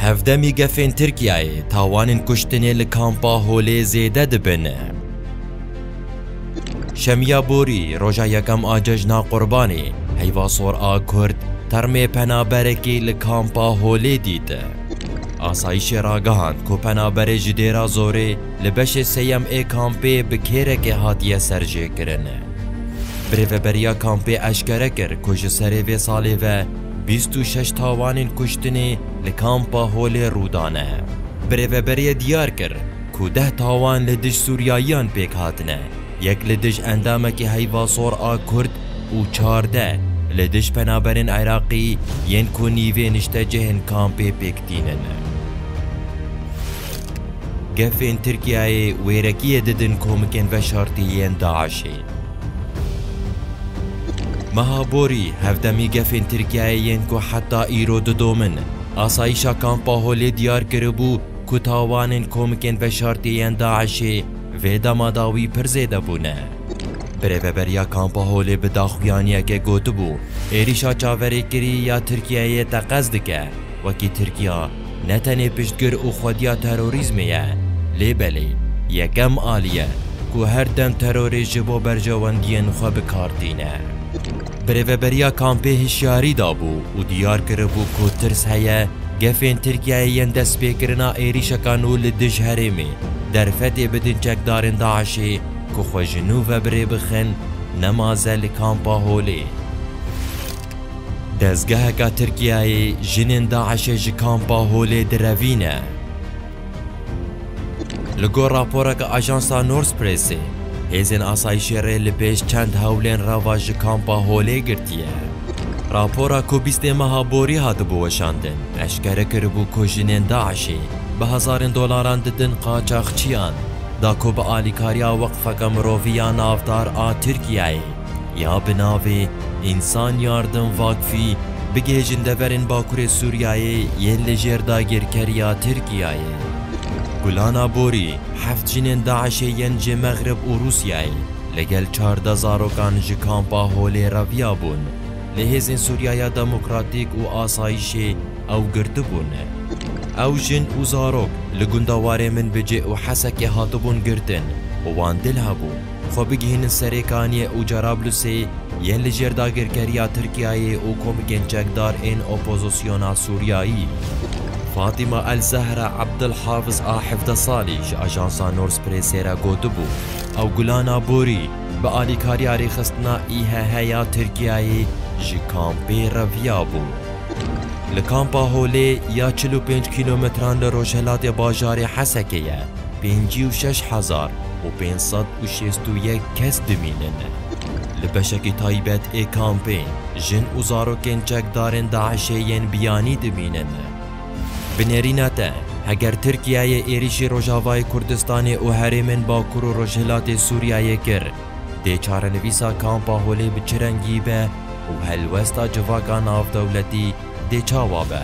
Hevdemî gefên Tirkiyeyê tawanên kuştinê li kampa Holê zêde dibin. Şemiya borî roja yekem a cejna Qurbanê heyva sor a Kurd termê penaberekî li kampa Holê dît. Asayîşê ragihand ku penaberê ji dêra zorê li beşê sêyem ê kampê bi kêrekê hatiye serjêkirin. Birêveberiya kampê eşkere kir ku ji serê vê salê ve Bîst û şeş tawanên kuştinê li kampa Holê rûdane. Bi rêveberiyê diyar kir ku deh tawan li dij Sûriyayiyan pêk hatine, yek li dij endamekî Heyva Sor a Kurd û çardeh li dij penaberên Iraqî yên ku nîvê niştecihên kampê pêk tînin. Gefên Tirkiyeyê wêrekiyê didin komikên veşartî yên DAIŞ'ê. Meha borî hevdemî gefên Tirkiyeyê yên ku heta îro didomin. Asayîşa Kampa Holê diyar kiribû ku tawanên komikên veşartî yên DAIŞ'ê vê dema da wî pir zêde bûne. Bi rêveberiya Kampa Holê bi daxuyaniyekê gotibû, êrîşa çaverêkirî ya Tirkiyeyê teqez dike, wekî Tirkiya, ne tenê piştgir û xwediya terorîzmê ye, lê belê yekem alî ye ku her dem terorê ji bo berjewendiyên xwe bi kar tîne. Bi rêveberiya kampê hişyarî dabû û diyar kiribû ku tirs heye gefên Tirkiyeyê yên destpêkirina êrîşeka nû li dij herêmê derfetê bidin çekdarên DAIŞ'ê ku xwe ji nû ve bi rê bixin nema ze li Kampa Holê. Dezgeheka Tirkiyeyê jinên DAIŞ'ê ji kampa Holê direvîne. Li gor raporeke ajansa Northpressê, hêzên asayîşê rê li pêş çend hewlên re ve ji kampa Holê girtiye. Rapora ku bîstê meha borî hatibû weşandin, eşkere kiribû ku jinên DAIŞ'ê bi hezarên dolaran didin qaçaxçiyan, da ku bi alîkariya weqfeke mirovî ya navdar a Tirkiyeyê, Ya bi navê Însan Yardım Vakfî bigihêjin deverên Bakurê Sûriyeyê yên li jêr dagirkeriya Tirkiyeyê. Gulana Borî heft jinên DAIŞ'ê yên ji Mexrib û Rûsyayê li gel çardeh zarokan ji kampa Holê reviyabûn, lê hêzên Sûriyeya Demokratîk û Asayîşê ew girtibûn. Ew jin û zarok li gunda Warê Minbicê û Hesekê hatibûn girtin û wan dil hebû. xwe bigihînin serê Kaniye û Cerablusê yên li jêr dagirkeriya Tirkiyeyê û komikên çekdar ên opozisyona Sûriyayî. Fatîma El Zehra Abdul Hafiz a hevdeh salî ji ajansa Nors Prêsê re gotibû, Ew Gulana Borî, bi alîkariya rêxistina IHH ya Tirkiyeyê ji kampê re viyabû. Li kampa Holê ya çil û pênc kîlometran li rojhilatê bajarê Hesekê ye. pêncî û şeş hezar û pênc sed û şêst û yek kes dimînin. Li beşekî taybet ê kampê jin û zarokên çekdarên DAIŞ'ê yên biyanî dimînin. Bi nêrîna te, heger Tirkiyeyê êrîşî Rojavayê Kurdistanê û herêmên Bakur û Rojhilatê Sûriyeyê kir, dê çarenivîsa kampa holê bi çi rengî be û helwesta civaka navdewletî dê çawa be?